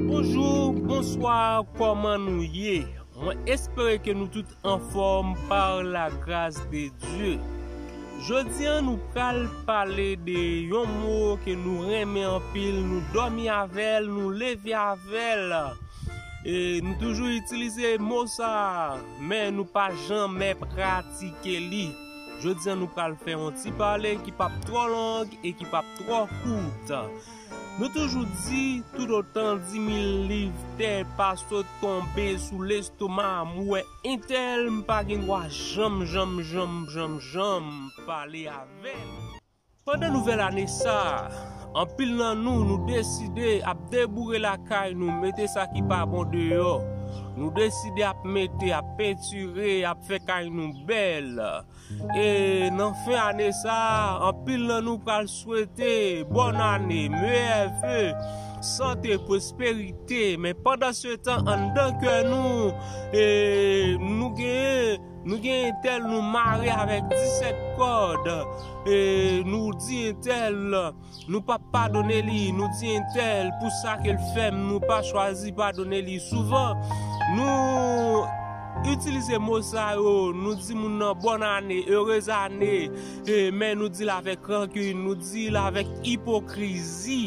Bonjour, bonsoir, kòman nou ye? Mwen espere ke nou tout anfòm par la gras de Dye. Jodi an nou pral pale de yon mo ke nou renmen anpil, nou dòmi avèl, nou leve avèl. E nou toujou itilize mo sa, men nou pa janmè pratike li. Jodi an nou pral fè yon ti pale ki pap twò long e ki pap twò kout. Nou toujou di toutotan dimil liv tè pa sot tonbe sou lestoma m wè entèl m pa gen dwa janm janm janm janm janm pale avè l. Pandan nouvèl ane sa a, anpil nan nou, nou deside ap deboure lakay nou, mete sa ki pa bon deyò. Nou deside ap mete, ap pentire, ap fè kay nou bèl. E nan fen ane sa a, anpil nan nou pral swete bòn ane, meyè ve, sante, pwosperite. Men pandansetan anndan kè nou, nou gen. Nou gen entèl nou mare avèk 17 kòd e nou di entèl nou pap padone li, nou di entèl pou sa ke l fè m nou pa chwazi padone li. Souvan nou itilize mo sa yo, nou di moun nan bòn ane, erez ane men nou di l avèk rankin, nou di l avèk ipokrizi.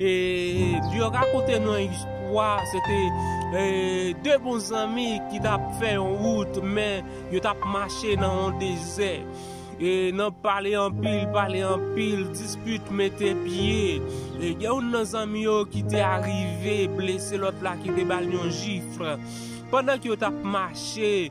E yo rakonte nou yon istwa, se te de bon zanmi ki tap fè yon wout men yo tap mache nan yon dezè. E nan pale anpil, pale anpil, dispit mete pye. E gen youn nan zanmi yo ki te arive blese lòt la ki te bal yon jifl. Pandan ke yo tap mache.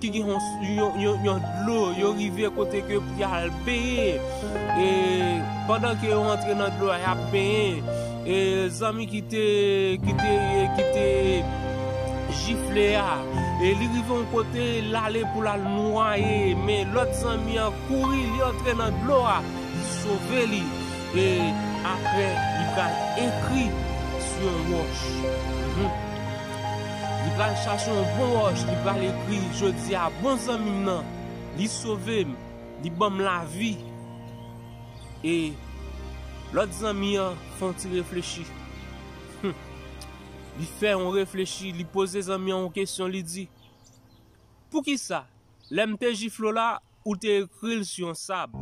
ki gen yon dlo yo rive kote ke pou yal benyen e pandan ke yo antre nan dlo a yap benyen e zanmi ki te ki te ki te jifle a e li rive yon kote lale pou lal nwaye men lòt zanmi an kouri li antre nan dlo a li sove li e aprè li pral ekri sou yon wòch. Li pral chache yon bon wòch li pral ekri jodi a bon zanmi m nan li sove m li ban m lavi e lòt zanmi an fè yon ti reflechi humm li fè yon reflechi li poze zanmi an yon kesyon li di poukisa lè m te jifle w la Ou te ekri l sou yon sab.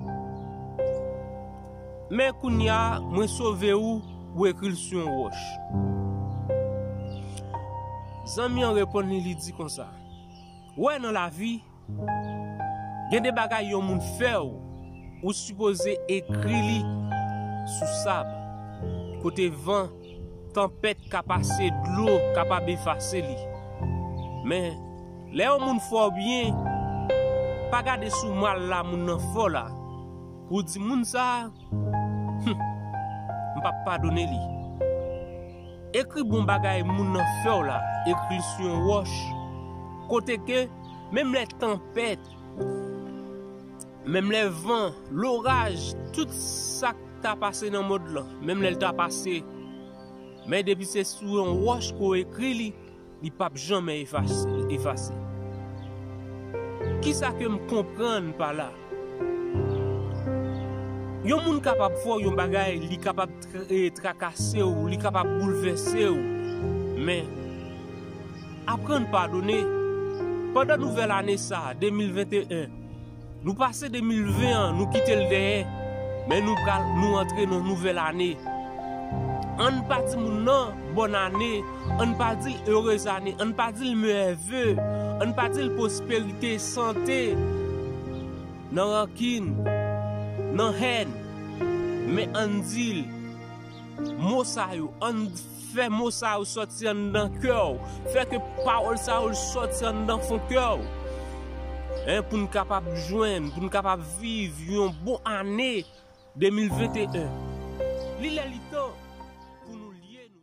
Men, kounye a, mwen sove ou, ou ekri l sou yon wòch. Zanmi an reponn li, li di konsa, Ou wè, nan lavi, gen de bagay yon moun fè w, ou sipoze ekri li sou sab, kote van. Tanpèt ka pase dlo kapab efase li men lè yon moun fè w byen pa gade sou mal la moun nan fè w la pou w di moun sa humm m pap padone li ekri bon bagay moun nan fè w la ekri l sou yon wòch kote ke menm lè tanpèt Menm lè van, loraj, tout sa k ta pase nan mond lan, menm lè l ta pase, men depi se sou yon wòch ke w ekri li, li p ap janmè efase. Kisa ke m konprann pa la? Yon moun kapab fè w yon bagay, li kapab. trakase w, li kapab boulvèse w. Men, aprann padone. Pandan nouvèl ane sa a, 2021, nou pase 2020 an, nou kite l dèyè, men nou pral, nou antre nan yon nouvèl ane. Ann pa di moun nan bòn ane, ann pa di l erez ane, ann pa di l meyè ve, ann pa di l pwosperite, sante. Nan rankin, nan hèn, men ann di l, mo sa yo, ann fè mo sa yo sòti anndan kè w, fè ke pawòl sa yo sòti anndan fon kè w, pou n kapab jwenn, pou n kapab viv yon bon ane 2021. Li lè li tan pou nou lye nou.